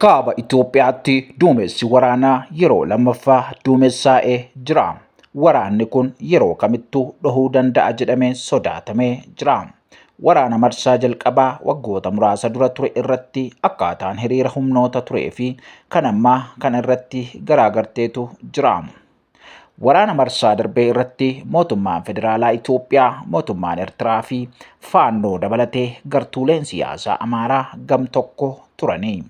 Kaaba Itoophiyaatti duumessi waraanaa yeroo lammaffaa duumessaa'ee jira. Waraanni kun yeroo kamittuu dhahuu danda'a jedhamee sodaatamee jira. Waraana marsaa jalqabaa waggoota muraasa dura ture irratti akkaataan hiriira humnoota turee fi kan ammaa kan irratti garaagarteetu jira. Waraana marsaa darbee irratti mootummaan federaalaa Itoophiyaa, mootummaan Ertiraa fi Faannoo dabalatee gartuuleen siyaasaa Amaaraa gam tokko turanii.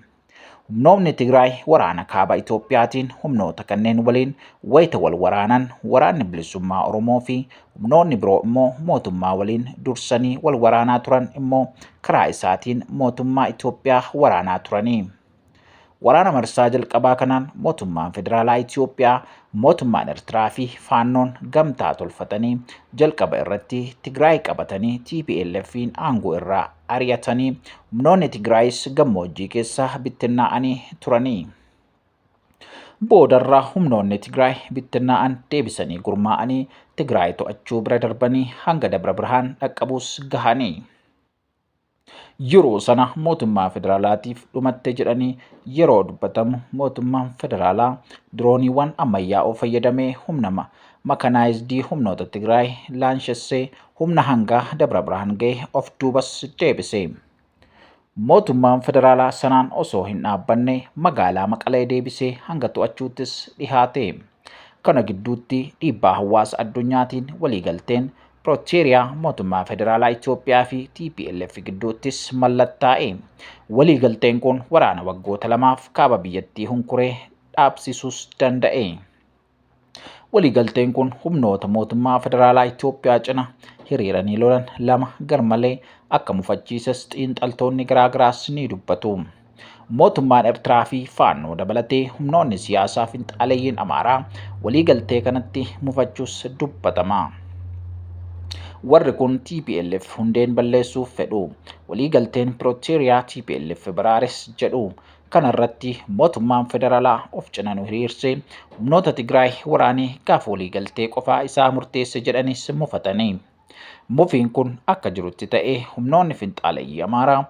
Humnoonni Tigraay waraana kaaba Itoophiyaatiin humnoota kanneen waliin wayita wal waraanan waraanni bilisummaa Oromoo fi humnoonni biroo immoo mootummaa waliin dursanii wal waraanaa turan immoo karaa isaatiin mootummaa Itoophiyaa waraanaa turanii. Waraana marsaa jalqabaa kanaan mootummaan federaalaa Itoophiyaa, mootummaan Ertiraa fi Faannoon gamtaa tolfatanii jalqaba irratti Tigraay qabatanii TPLFiin aangoo irraa ari'atanii humnoonni Tigraayis gammoojjii keessa bittinnaa'anii turanii. Boodarra humnoonni Tigraay bittinnaa'an deebisanii gurmaa'anii Tigraay to'achuu bira darbanii hanga Dabra Birhaan dhaqqabuus gahanii. yeroo sana mootummaa federaalaatiif dhumatte jedhanii yeroo dubbatamu mootummaan federaalaa dirooniiwwan ammayyaa'oo fayyadamee humna makanaayizdi humnoota Tigraay laanshessee humna hangaa Dabra Birhaan ga'e of duubas deebise. Mootummaan federaalaa sanaan osoo hin dhaabbanne magaalaa Maqalee deebisee hanga to'achuuttis dhihaate. Kana gidduutti dhiibbaa hawaasa addunyaatiin waliigalteen Pirooteeriyaa mootummaa federaalaa Itoophiyaa fi TPLF gidduuttis mallattaa'e. Waliigalteen kun waraana waggoota lamaaf kaaba biyyattii hunkuree dhaabsisuus danda'e. Waliigalteen kun humnoota mootummaa federaalaa Itoophiyaa cina hiriiranii lolan lama garmalee akka mufachiises xiinxaltoonni garaagaraas ni dubbatu. Mootummaan Ertiraa fi Faannoo dabalatee humnoonni siyaasaa finxaaleyyiin Amaaraa waliigaltee kanatti mufachuus dubbatama. Warri kun TPLF hundeen balleessuuf fedhu. Waliigalteen Pirooteeriyaa TPLF baraares jedhu. Kana irratti mootummaan federaalaa of cina nu hiriirsee humnoota Tigraay waraanee gaafa waliigaltee qofaa isaa murteesse jedhanis mufatanii. Mufiin kun akka jirutti ta'ee humnoonni finxaaleyyii Amaaraa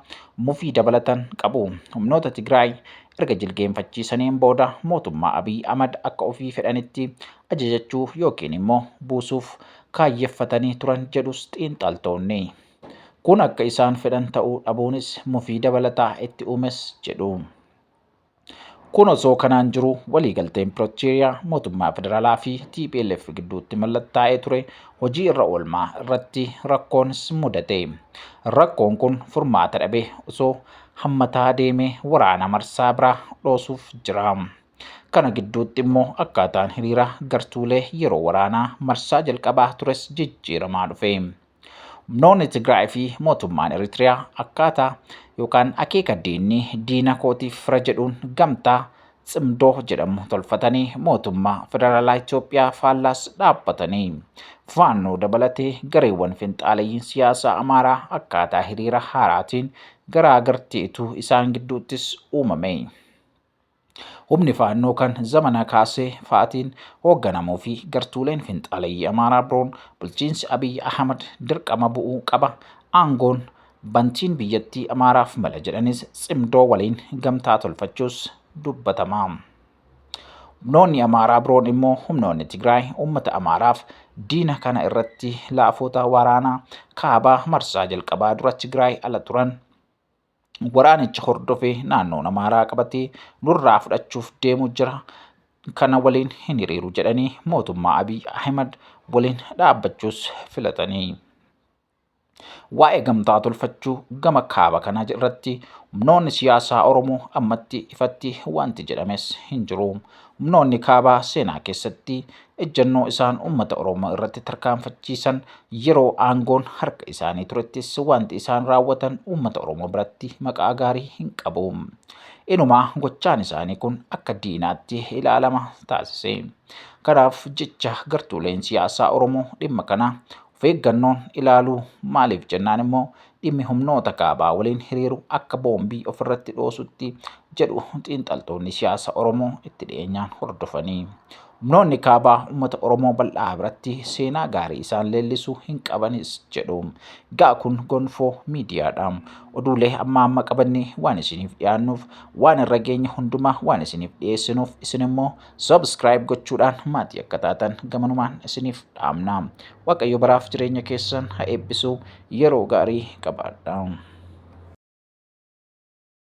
mufii dabalatan qabu. Humnoota Tigraay erga jilgeenfachiisaniin booda mootummaa Abiy Ahmad akka ofii fedhanitti ajajachuu yookiin immoo buusuuf kaayyeffatanii turan jedhus xiinxaltoonni. Kun akka isaan fedhan ta'uu dhabuunis mufii dabalataa itti uumes jedhu. Kun osoo kanaan jiru waliigalteen Pirootooriyaa mootummaa federaalaa fi TPLF gidduutti mallattaa'ee ture hojii irra oolmaa irratti rakkoon mudate. Rakkoon kun furmaata dhabe osoo hammataa deemee waraana marsaa biraa dhoosuuf jira. Kana gidduutti immoo akkaataan hiriira gartuulee yeroo waraanaa marsaa jalqabaa tures jijjiiramaa dhufe. Humnoonni Tigraay fi mootummaan Eritiriyaa akkaataa yookaan akeeka diinni diina kootiif fira jedhuun gamtaa tsimdoo jedhamu tolfatanii mootummaa federaalaa Itoophiyaa faallaas dhaabbatanii faannoo dabalatee gareewwan finxaaleyyiin siyaasaa Amaaraa akkaataa hiriira haaraatiin garaa garteetu isaan gidduuttis uumame. Humni faannoo kan zamanaa kaasee fa'atiin hoogganamuu fi gartuuleen finxaaleyyii Amaaraa biroon bulchiinsi Abiy Ahmad dirqama bu'uu qaba. Aangoon bantiin biyyattii Amaaraaf mala jedhanis tsimdoo waliin gamtaa tolfachuus dubbatama. Humnoonni Amaaraa biroon immoo humnoonni Tigraay uummata Amaaraaf diina kana irratti laafoota waraanaa kaabaa marsaa jalqabaa dura Tigraay ala turan waraanicha hordofee naannoon Amaaraa qabatee nurraa fudhachuuf deemu jira. Kana waliin hin hiriiru jedhanii mootummaa Abiy Ahimad waliin dhaabbachuus filatanii. Waa'ee gamtaa tolfachuu gama kaaba kanaa irratti humnoonni siyaasaa Oromoo ammatti ifatti wanti jedhames hin jiru. Humnoonni kaabaa seenaa keessatti ejjannoo isaan uummata Oromoo irratti tarkaanfachiisan yeroo aangoon harka isaanii turettis wanti isaan raawwatan uummata Oromoo biratti maqaa gaarii hin qabu. Inumaa gochaan isaanii kun akka diinaatti ilaalama taasise. Kanaaf jecha gartuuleen siyaasaa Oromoo dhimma kana of eeggannoon ilaaluu maaliif jennaan immoo dhimmi humnoota kaabaa waliin hiriiru akka boombii ofirratti dhoosutti jedhu xiinxaltoonni siyaasa Oromoo itti dhiyeenyaan hordofanii. Humnoonni kaabaa uummata Oromoo bal'aa biratti seenaa gaarii isaan leellisu hin qabanis jedhu. Gaa kun gonfoo miidiyaadha. Oduulee amma amma qabannee waan isiniif dhiyaannuuf waan irra geenye hundumaa waan isiniif dhiyeessinuuf isin immoo subscribe gochuudhaan maatii akka taatan gamanumaan isiniif dhaamna. Waaqayyo baraaf jireenya keessan haa eebbisu. Yeroo gaarii qabaadhaa.